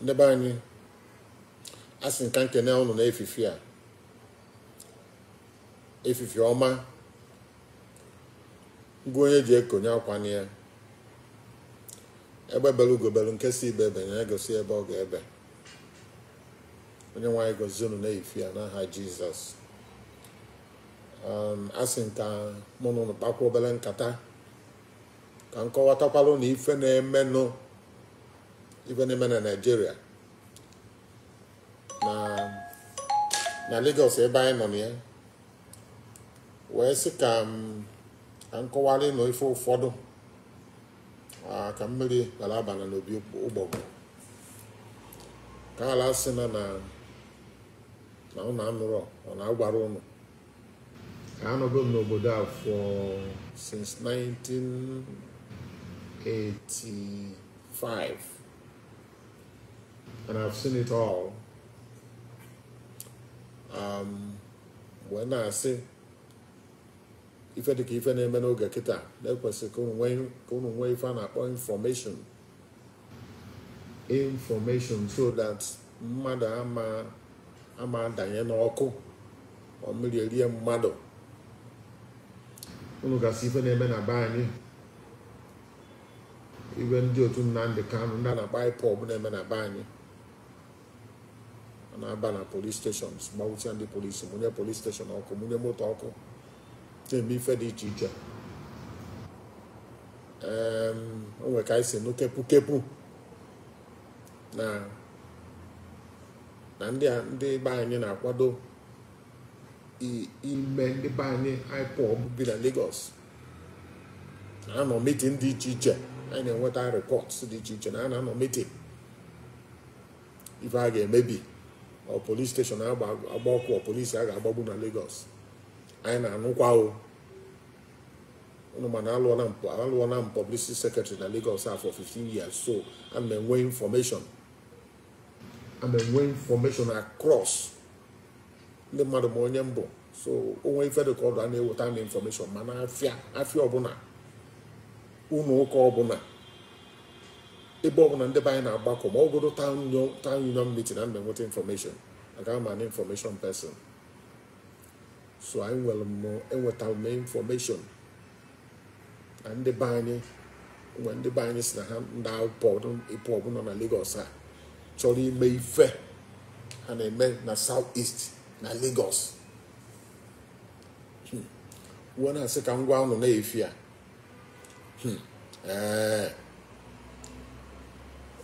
ndị be anyị asị m ka m kene ụnụ n'efifie a efifie ọma ngwa onye ji eko onye akwana ya egbe belu ugo belu nke sị ibe ebena gosi ebe ọ ga-ebe Onyenweanyị gọzie unu n'efifie a n'aha jizọs asị m ka mụ na ụnụ kpakwa obele nkata ka m kọwatakwalụ nụ ife na-emenụ ife na-eme na Nigeria na na Lagos ebe anyị nọ na ya wee sị ka m ka m kọwalụ ụnụ ife ụfọdụ ah, ka mmiri ghara abana n'opi ụgbọgụ ka a ghala sị na na na ụnụ anụrọ ọ na a gwarọ ụnụ anọgo m n'obodo a for since 1985 and I've seen it all um, wee na-asị ife dịka ife na-eme n'oge kịta na ekwesị ka unu nwee ife a na-akpọ information information so that mmadụ ama ama adanye n'ọkụ ọ mmiri erie mmadụ unu gasị ife na-eme na be anyị ife ndị otu Nnamdi Kanu ndị a na-akpọ IPOB na-eme na be anyị a na-aba na police station gbagbusịa ndị polisi mụnye police station ọkụ mụnye moto ọkụ na-eme ife dị iche iche Em, o nwere ka anyị si nụ kepu kepu na na ndị a- ndị be anyị na-akwado i- ime ndị be anyị IPOB bi na Lagos na-anọ meeting dị iche iche anyị na-enweta report dị iche iche na a na-anọ meeting ife a ga-emebi ọ police station a ga-agba ọkụ ọ polisi a ga-agbagbu na Lagos anyị na-anụkwa o unu ma na alụọna m pu- alụọna m publicity secretary na Lagos a for 15 years so ana m enwe information ana m enwe information across ndị mmadụ ma onye m bụ so o nwee ife dị ka ọ dụ a na-eweta m information ma n'afịa afịa ọbụna ụnọ ụka ọbụna ebe ọbụna ndị be anyị na-agbakọ ma ọ bụgodu town union meeting ana m enweta information I am an information person so enwere m enwetara m information na ndị be anyị ụmụ ndị be anyị si na ha ndị IPOB nọ na Lagos ha chọrọ ime ife ha na-eme na South East na Lagos hmm. m wee na-asị ka m gwa ụnụ na ife a hmm. ee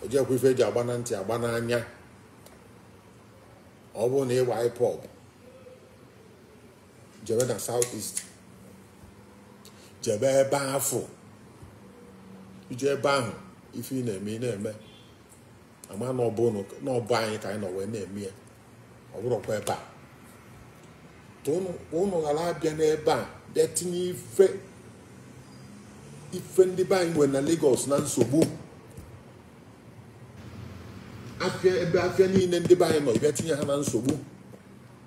ejikwa ife eji agba na ntị agba n'anya ọ bụrụ na ị bụ IPOB jebe na south east jebe ebe afụ i jee ebe ahụ ife ị na-eme ị na-eme a ma na ọ bụ anyị ka anyị nọ wee na-eme ya ọ bụrọkwa ebe a ụnụ ghara abịa n'ebe a bịa tinye ife ife ndị be anyị nwere na Lagos na nsogbu afịa ebe afịa niile ndị be anyị nọ bịa tinye ha na nsogbu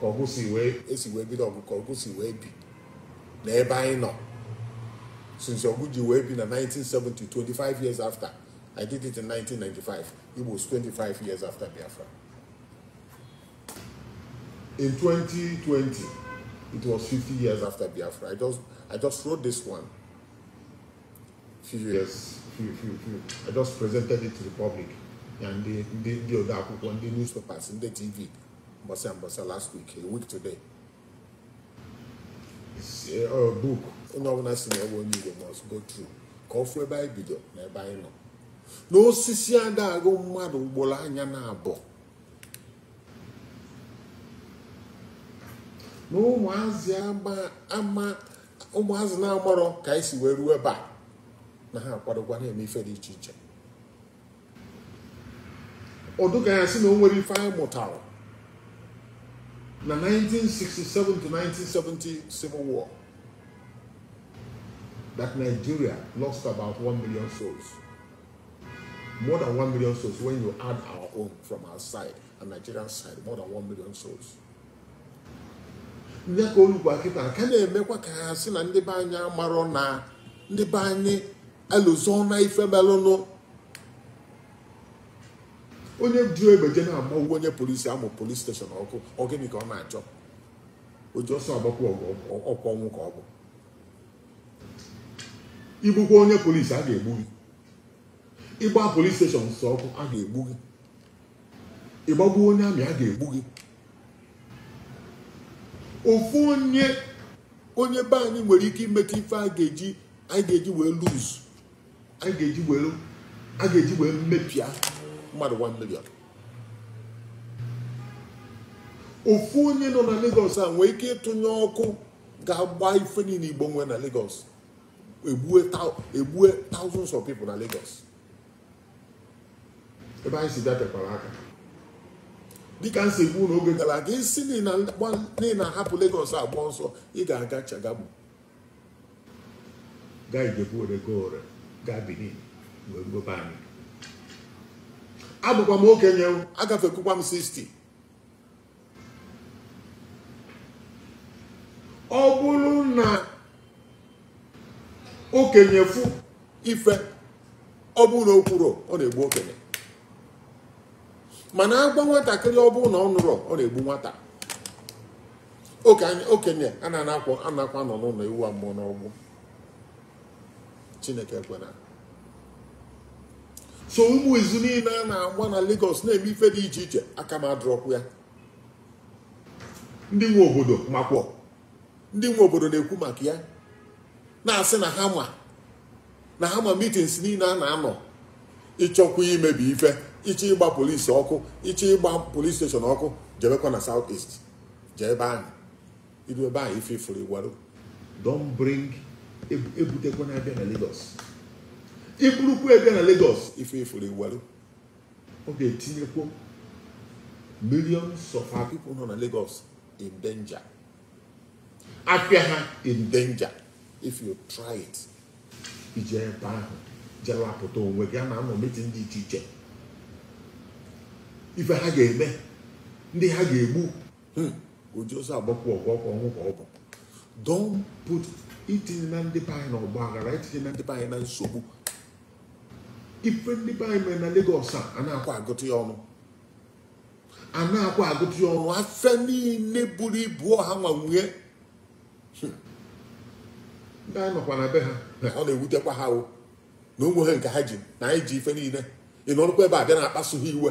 ka ọgụ si wee e si wee bido ọgụ ka ọgụ si wee bi na ebe anyị nọ since ọgụ ji wee bi na 1970 25 years after I did it in 1995 Igbos 25 years after Biafra in 2020 it was 50 years after Biafra I just I just wrote this one few years, I just presented it to the public na ndị ndị ndị ode akwụkwọ ndị newspapers ndị TV mbọsị mbọsị last week a week today eh, ọ book onye ọbụla sị na ọ bụ onye Igbo must go through ka ọ fụ ebe anyị bido na ebe anyị nọ n'osisi ada akpọ mmadụ ugboro anya naabọ na ụmụazị ama ụmụazị na-amarọ ka anyị si wee ruo ebe a na ha akwadokwa na-eme ife dị iche iche ọ dịka a ya-asị na o nwerọ ife anyị mụtara na 1967 to 1970 civil war that Nigeria lost about 1 million souls more than 1 million souls when you add our own from our side and Nigerian side more than 1 million souls nya ka o lukwa kịta ka a na-emekwa ka a sị na ndị be anyị amarọ na ndị be anyị elozọna ife melụnụ onye ji egbe je na-agbagbu onye polisi amụ polis steshọn ọkụ ọ gịnị ka ọ na-achọ oji ọsọ agbakwu ọgụ ọkwa ọnwụ ka ọ bụ i gbukwa onye polisi a ga-egbu gị ị gbaa polis steshọns ọkụ a ga-egbu gị ị gbagbuo onye army a ga-egbu gị ofu onye onye be anyị nwere ike imeta ife a ga-eji anyị ga-eji wee lose anyị ga-eji wee a ga-eji wee mepịa mmadụ 1 million ofu onye nọ na Lagos a nwee ike ịtụnye ọkụ ga-agba ife niile Igbo nwee na Lagos egbue thou- egbue thousands of people na Lagos ebe anyị si bịa tekwara aka dịka m si kwuo n'oge gara aga ị sị na ị na-ahapụ Lagos agba ọsọ ị ga-aga Shagamu gaa Ijebu Ode gaa Ore gaa Benin wee ruo be anyị abụkwa m okenye agafekukwa m 60 ọ bụrụ na okenye fụ ife ọ bụrụ na o kwurọ ọ na-egbu okenye mana a gwa nwatakịrị ọ bụrụ na ọ nụrọ ọ na-egbu nwata okenye a na-anakwa anọ n'ụlọ ewu amụọ n'ọgbụ chineke ekwena so ụmụ izu niile a na-agba na Lagos na-eme ife dị iche iche aka m adịrọkwọ ya ndị nwe obodo makwọ ndị nwe obodo na-ekwu maka ya na-asị na ha ma na ha ma meetings niile a na-anọ ị chọkwa imebi ife ị chọ ịgba police ọkụ ị chọ ịgba police station ọkụ jebekwa na South East jee ebe ahụ i ruo ebe ahụ ife ị fụrụ ị warụ don't bring ebutekwana bịa na Lagos i burukwu ya bịa na Lagos ife ị fụrụ ị warụ ọ ga-etinyekwu millions of our people nọ na Lagos in danger afịa ha in danger if you try it i jee ebe ahụ je lapụta onwe gị a na-anọ meeting dị iche iche ife ha ga-eme ndị ha ga-egbu Hmm. oji ọsọ agbakwu ọgụ ọ kwa ọnwụ ka ọ bụ don't put etinyena ndị be anyị na ọgba aghara etinyena ndị be anyị na nsogbu ife ndị be anyị mere na Lagos a a na-akwa agụta ya ọnụ a na-akwa agụta ya ọnụ afịa niile buru ibu ọ ha nwe nwe ya Hmm. ndị anyị nọkwa na be ha na ọ na-ewutekwa ha o na o nweghị nke ha ji na anyị ji ife niile ị nọrụkwa ebe a bịa na-akpasu ha iwe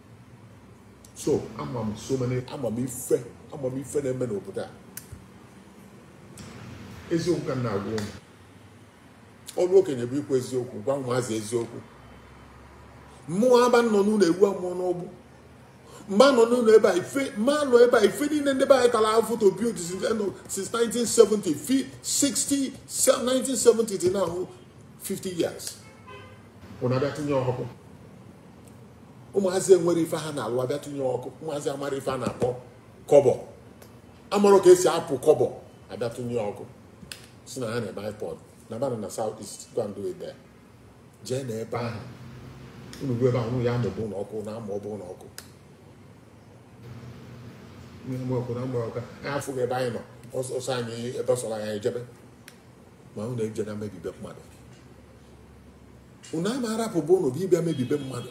so ama m so many ama m ife ama m ife na-eme n'obodo a eziokwu ka m na-agwa unu ọrụ okenye bụ ikwu eziokwu gwa ụmụazị eziokwu mụ ama nọ n'ụlọ ewu amụọ n'ọgbụ mma nọ n'ụlọ ebe a ife mma nọ ebe a ife niile ndị be anyị tara ahụfụ to build since end of- since 1970 fi- 60 se- 1970 till now 50 years unu abịa tinye ọkụ ụmụazị enwerọ ife ha na-alụ abịa tụnye ọkụ ụmụazị amarọ ife a na-akpọ kọbọ amarọ ka e si akpa kọbọ abịa tụnye ọkụ sị na ha na-eme ipob nabanụ na south east go and do it there jee na ebe ahụ unu ruo ebe ahụ unu ya amụba ụlọ ọkụ na-amụba ụlọ ọkụ na-eme ọkụ na-amụ ọkụ anyị afụghị ebe anyị nọ ọsọ ọ sọ anyị ebe ọ sọrọ anyị ejebe ma unu ejena imebi be mmadụ unu ama arapụ be unu gị bịa mebi be mmadụ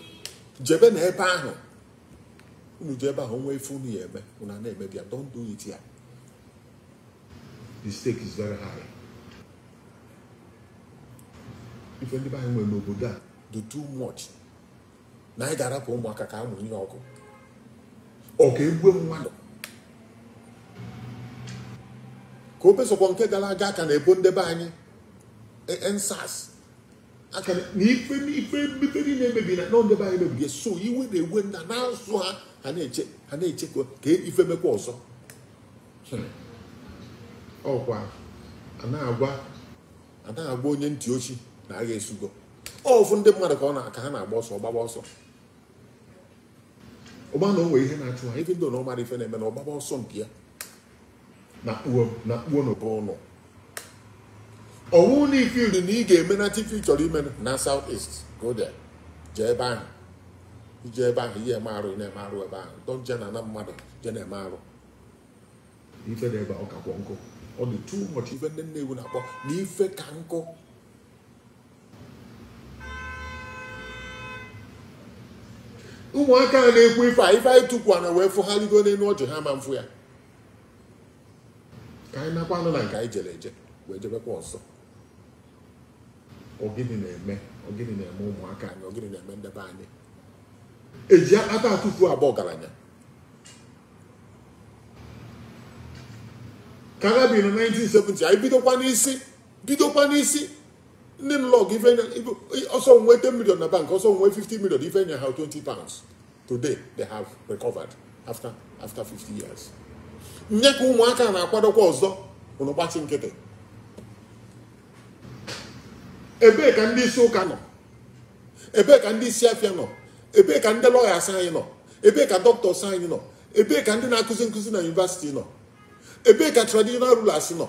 jebe na ebe ahụ unu je ebe ahụ nwee ife unu ya eme unu a na-emebi ya don't do it here the stake is very high ife ndị be anyị nwere n'obodo a dị too much na anyị ga-arapụ ụmụaka ka ha mụ ihe ọkụ ọ ka egbue mmadụ ka o besokwa nke gara aga a ka na-ebo ndebe anyị endsars a ka na ife n'ife niile e mebi na ndebe anyị mebiri so iwe na-ewe nna na-asụ ha ha na-eche ha na-eche ka ka ife mekwa ọzọ ọ kwa a na-agwa a na-agwa onye ntị ochi na agha esugo ọ fụ ndị mmadụ ka ọ na- ka ha na-agba ọsọ gbaba ọsọ ọgba na o nwere ihe na-achụ ha ife ndị na ọ mara ife na-eme na ọ gbaba ọsọ nke ya nakpuo nakpuonụ be unu ọwụ na i feel na ị ga-eme na ife ị chọrọ ime na south east go there jee ebe ahụ i je ebe ahụ ị ya eme arụ ị na-eme arụ ebe ahụ don't je n'ana mmadụ je na-eme arụ ife dị ebe a ọ kakwọ nkụ ọ dị too much ife ndị nnewi na-akpọ na ife ka nkụ ụmụaka a na-ekwu ife a ife anyị tukwu ana wee fụ ha ligo n'elu ọjị ha ama afụ ya ka anyị nakwanụ na nke anyị jere eje wee jebekwa ọzọ ọ gịnị na-eme ọ gịnị na-eme ụmụaka anyị ọ gịnị na-eme ndebe anyị eji akpata atụfu aba ọgaranya ka agha bi na 1970 anyị bidokwa n'isi bidokwa n'isi ndị nlọg ife nye- ife- ọ sọ nwe 10 million na bank ọ sọ nwe 50 million ife e nye ha 20 pounds today they have recovered after after 50 years nye ka ụmụaka na-akwadokwa ọzọ unu gbachi nkịtị ebee ka ndị isi ụka nọ ebee ka ndị isi afịa nọ ebee ka ndị lawyers anyị nọ ebee ka doctors anyị nọ ebee ka ndị na-akụzi nkụzi na university nọ ebee ka traditional rulers nọ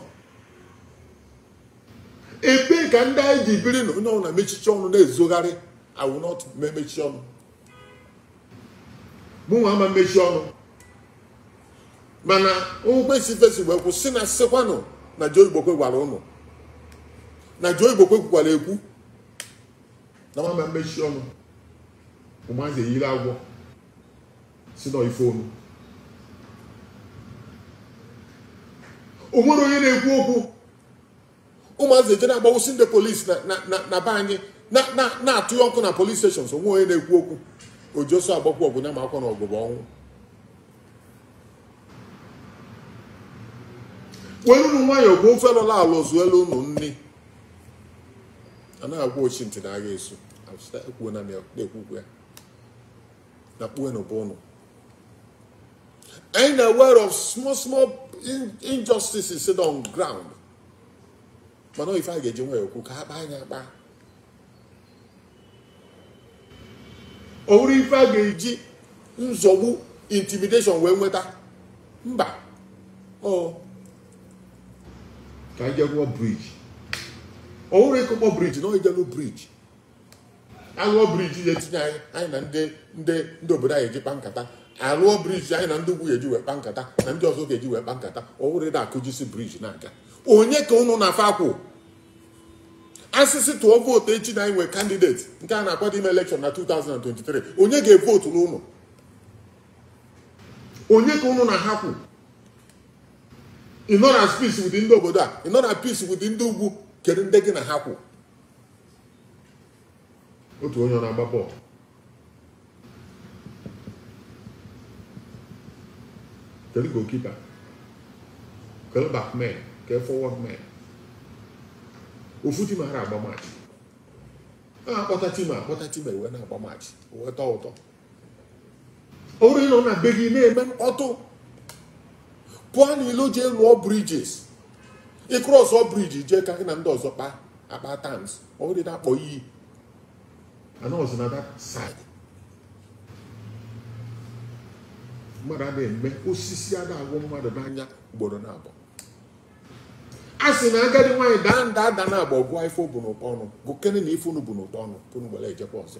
ebee ka ndị anyị ji biri na onye ọbụla mechichie ọnụ na-ezogharị I will not mechi ọnụ mụnwa ama mmechi ọnụ mana nkwesị fesi wee kwụ sị na sịkwanụ na Joe Igbokwe gwara ụnụ na Joe Igbokwe kwukwara ekwu na m ama mmechi ọnụ ụmụazị eyiri agwọ sị na ọ ife onu o nwere onye na-ekwu okwu ụmụazị eje na-agbawụsị ndị polisi na be anyị na-atụnye ọkụ na police stations o nwere onye na-ekwu okwu o ji ọsọ agbakwu ọgụ ya makwa na ọgụ bụ ọnwụ welunu nwayọọ bụ ofe lọla ala zuelu unu nri anaghị agwa ochi ntị na agha esu ekwuo na na-ekwukwu ya na kpuwe n'ụba ụnụ anyị na aware of small small injustices dị on ground mana ife a ga-eji nwayọ okwu ka a kpaa nya akpa ọ bụrọ ife a ga-eji nzọgbu intimidation wee nweta mba ọ ka anyị je lụọ briji ọ bụrọ ịkụkpọ briji na ọ ije lụ briji alụọ briji ya etinye anyị anyị na ndị ndị ndị obodo anyị eji kpa nkata alụọ briji anyị na ndị ugwu ga-eji wee kpa nkata na ndị ọzọ ga-eji wee kpa nkata ọ bụrụ ị da akụjisi briji na-aga onye ka ụnụ na fa kwụ a sị sị tụọ vootu echi na anyị nwee kandideti nke a na-akwado ime elekshọn na 2023 onye ga-evotu ụnụ onye ka ụnụ na ha kwụ ị nọ na peace with ndị obodo a ị nọ na peace with ndị ugwu kedu ndị gị na ha kwụ otu onye ọ na-agba bọọlụ kedu goalkeeper kedu backman ke forward man ofu tim ara agba match a kpọta tim a kpọta tim e wee na-agba match o wee tọọ ụtọ ọrọ ịnọ na be gị na-eme mkpọtụ pụọ n'ilo jee lụọ bridges ị krọsọ briji jee ka gị na ndị ọzọ kpa akpa terms ọ bụrọ ịna-akpọ iyi anọzi na that side mmadụ ada eme osisi ada agwụ mmadụ n'anya ugboro naabọ a sị na agadi nwaanyị daa nda ada naabọ a gụọ ife o bu n'ụkpa ọnụ gụkene na ife unu bu n'ụkpa ọnụ pụrụ gbara ejekwa ọzọ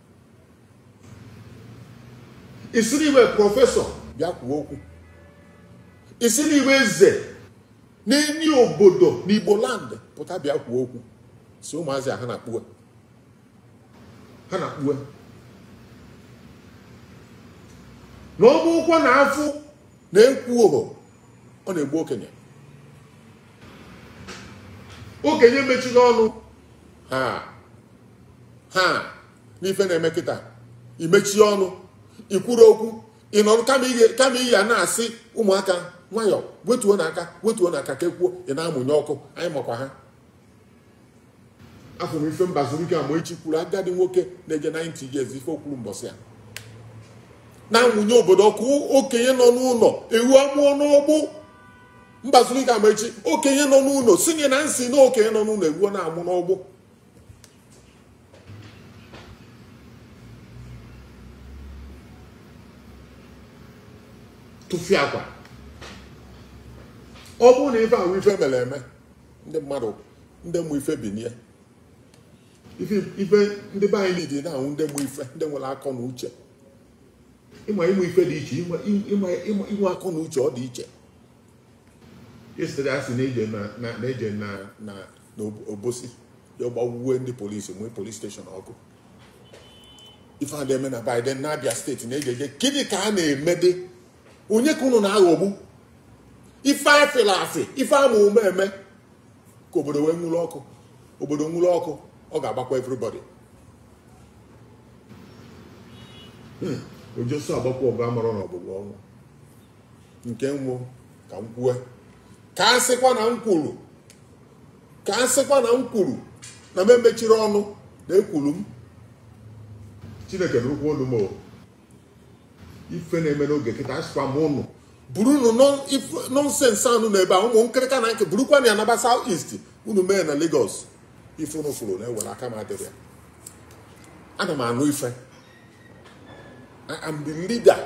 ị sịrị ị wụ prọfesọ bịa kwuo okwu ị sịrị ị wụ eze n'enyi obodo n'igbo land pụta bịa kwuo okwu sị ụmụazị a ha na-akpụwe ha na-akpụwe na ọ bụkwa na afụ na ekwurọ ọ na-egbu okenye okenye mechiri ọnụ ha ha n'ife na-eme kịta i mechie ọnụ i kwurọ okwu ị nọrọ kama ị ya na-asị ụmụaka nwayọ wetuonụ aka wetuonụ aka ka e kwuo ị na-amụnye ọkụ anyị makwa ha afụ m ife mbazulike amaechi kwuru agadi nwoke na-eje 90 years ife o kwuru mbọsị a na-amụnye obodo ọkụ okenye nọ n'ụlọ ewu amụọ n'ọgbụ mbazulike amaechi okenye nọ n'ụlọ sinye na nsi na okenye nọ n'ụlọ ewu na-amụ n'ọgbụ tụfịakwa ọ bụrụ na ife a wụ ife mere eme ndị mmadụ ndị mụ ife binie ife ife ndị be anyị niile na-ahụ ndị mụ ife ndị nwere akọ na uche ịma ịmụ ife dị iche ịma ịma ịma inwe akọ na uche ọ dị iche yesterday a sị na-eje na na na-eje na na na obosi ya gbagbuwe ndị polisi nwee polis steshọn ọkụ ife a na-eme na Aba na Abia steeti na-eje eje gịnị ka a na-emedị onye ka unu na-aghọgbu ife afịla afị ife a ma ụma eme ka obodo wee nwụrụ ọkụ obodo nwụrụ ọkụ ọ ga-agbakwa everybody oji ọsọ agbakwu ọgụ amarọ na ọgụ bụ ọnwụ nke wụ ka m kwue ka a sịkwa na m kwuru ka a sịkwa na m kwuru na m emechirọ ọnụ na ekwuru m chineke nụkwa olu m ife na-eme n'oge kịta asịkwa m unu burunụ nọnsensị unu na ebe a ụmụ nkịrịka na nke burukwanụ ya naba South East unu mee na Lagos ife unu fụrụ unu ewere aka m adịrọ ya ana m anụ ife I am the leader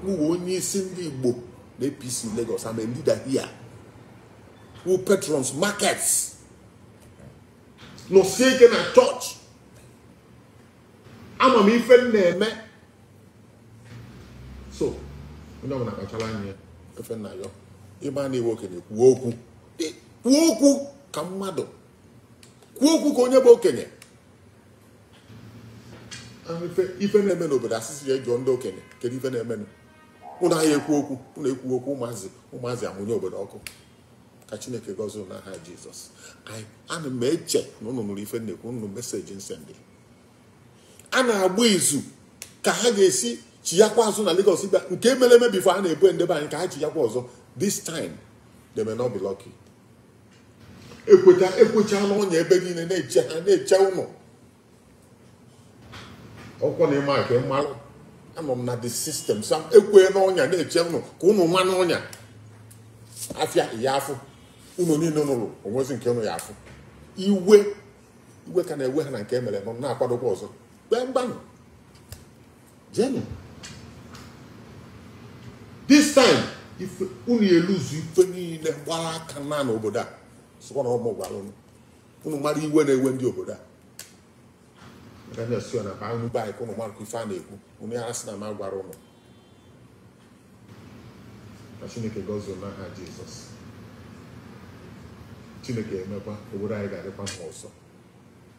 wụ onye isi ndị Igbo na APC Lagos I'm a leader here wụ patrons markets nọsie ike na chọọchị ama m ife m na-eme so onye ọbụla kpachara anya efe nna ya ị ma na ị wụ okenye kwuo okwu kwuo okwu ka mmadụ kwuo okwu ka onye bụ okenye ife na-eme n'obodo asịsị ya jụọ ndị okenye kedu ife na-emenụ ụnụ aya ekwu okwu ụnụ ekwu okwu ụmụazị ụmụazị amụnye obodo ọkụ ka chineke gọzie na aha jizọs ana m eche na ụnụ nụrụ ife m na-ekwu ụnụ message m sendị a na-agba izu ka ha ga-esi chiyakwa azụ na Lagos bịa nke mere eme before a na-egbu nde be anyị ka ha chiyakwa ọzọ this time they may not be lucky ekweta ekwechala ọnya ebe niile na-eche ha na-eche ụnụ ọkwa na ịma nke m malụ anọ m na the system sam ekwena ọnya na-eche ụnụ ka ụnụ ma n'ọnya afịa ya afụ ụnụ niile nwelu o nwezi nke ụnụ ya afụ iwe iwe ka na-ewe ha na nke e mere nọ na-akwadokwa ọzọ kpee mgbanụ jenụ this time ife unu eluzu ife niile gbara aka na n'obodo a sịkwa na ọ mụ gwara unu unu mara iwe na-ewe ndị obodo a Aga m asị ya na baa unu be anyị ka unu mara ka ife a na-ekwu unu ya asị na m agwara unu na chineke gọzie unu n'aha jizọs chineke emekwa obodo anyị ga-adịkwa mma ọzọ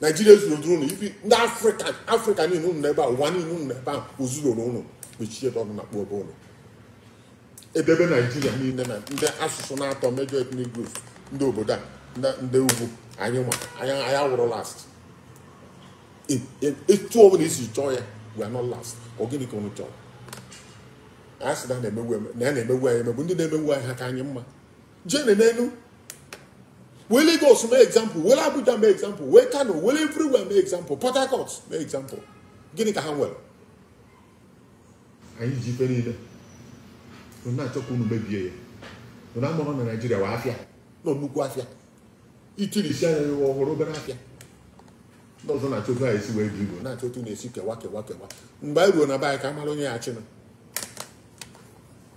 naijiria zuru duru unu ibi ndị afrịka afrịka niile unu nọ ebe a ụwa niile unu nọ ebe a o zuroro unu mechie ebe ọnụ na-akpọ ebe unu edebe naijiria niile na ndị asụsụ naatọ major ethnic groups ndị obodo a ndị- ndị ugwu anyị ma anyị anyị awụrụ last E- e- etu ọbụla i si chọọ ya we are not last ọ gịnị ka unu chọrọ a sị na a na-emegbu eme- na a na-emegbu anyị emegbu ndị na-emegbu anyị ha ka anyị mma jene n'elu wee Lagos mee example wee Abuja mee example wee Kano wee everywhere mee example Port Harcourt mee example gịnị ka ha nwere anyị ji ife niile unu na-achọ ka unu mebie ya unu amara na naijiria wụ afịa nọ nnukwu afịa i tirisi anya ya ụwa ọ wụrụ obere afịa ndị ọzọ na-achọ otu anyị si wee bi igbo na-achọ otu na-esi kewa kewa kewa mgbe anyị ruo na be anyị ka a mara onye ya-achịnụ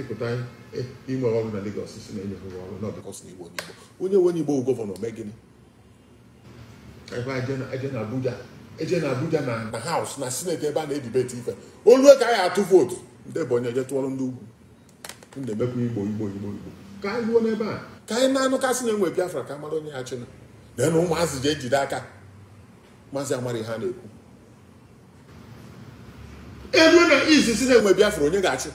ịpụta inwe ọrụ na Lagos sị na e nye ha ọrụ na ọ because na Igbo n'Igbo onye nwe Igbo gọvanọ mee gịnị eje na Abuja eje na Abuja na na House na Senate ebe a na-edibeti ife o lu ka a ya-atụ vote ndị Ebonyi eje tụọrọ ndị ugwu na-emekwa Igbo Igbo Igbo Igbo ka anyị ruo n'ebe a ka anyị na-anụ ka a sị na e nwee Biafra ka a mara onye ya-achịnụ na ụmụazị jee jide aka ụmụazị amara ihe a na-ekwu e lu na isi sị na e nwee biafra onye ga-achị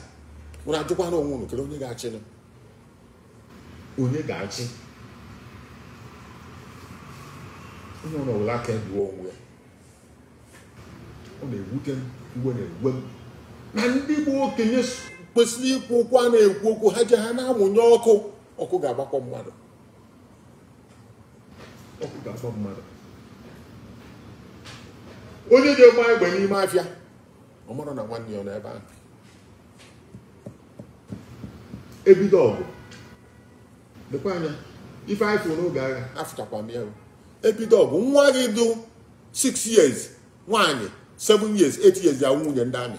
nwere ajụkwana onwe unu kedu onye ga-achị nụ? onye ga-achị onye ọ nọwụla aka egbuo onwe ya ọ na-ewute m ọ na-ewe m na ndị bụ okenye s- kwesịrị ikwu okwu a na-ekwu okwu ha je ha na-amụnye ọkụ ọkụ ga-agbakpọ mmadụ ọkụ ga-akpọ mmadụ onye ji egbe agba n'ime afịa ọ mara na nwanne ya nọ ebe ahụ ebido ọgụ lekwa anya ife anyị fụrụ n'oge agha afụchakwa m ya o. ebido ọgụ nwa gị dụ 6 years nwaanyị 7 years 8 years ya nwunye ndị amị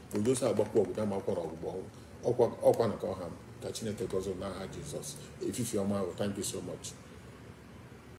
Odosa agbakwa ọgụ dama akwara ọgbụgbọ ọkwa na ka ọ ha m ka Chineke gọzie n'aha Jizọs efifie ọma nụ thank you so much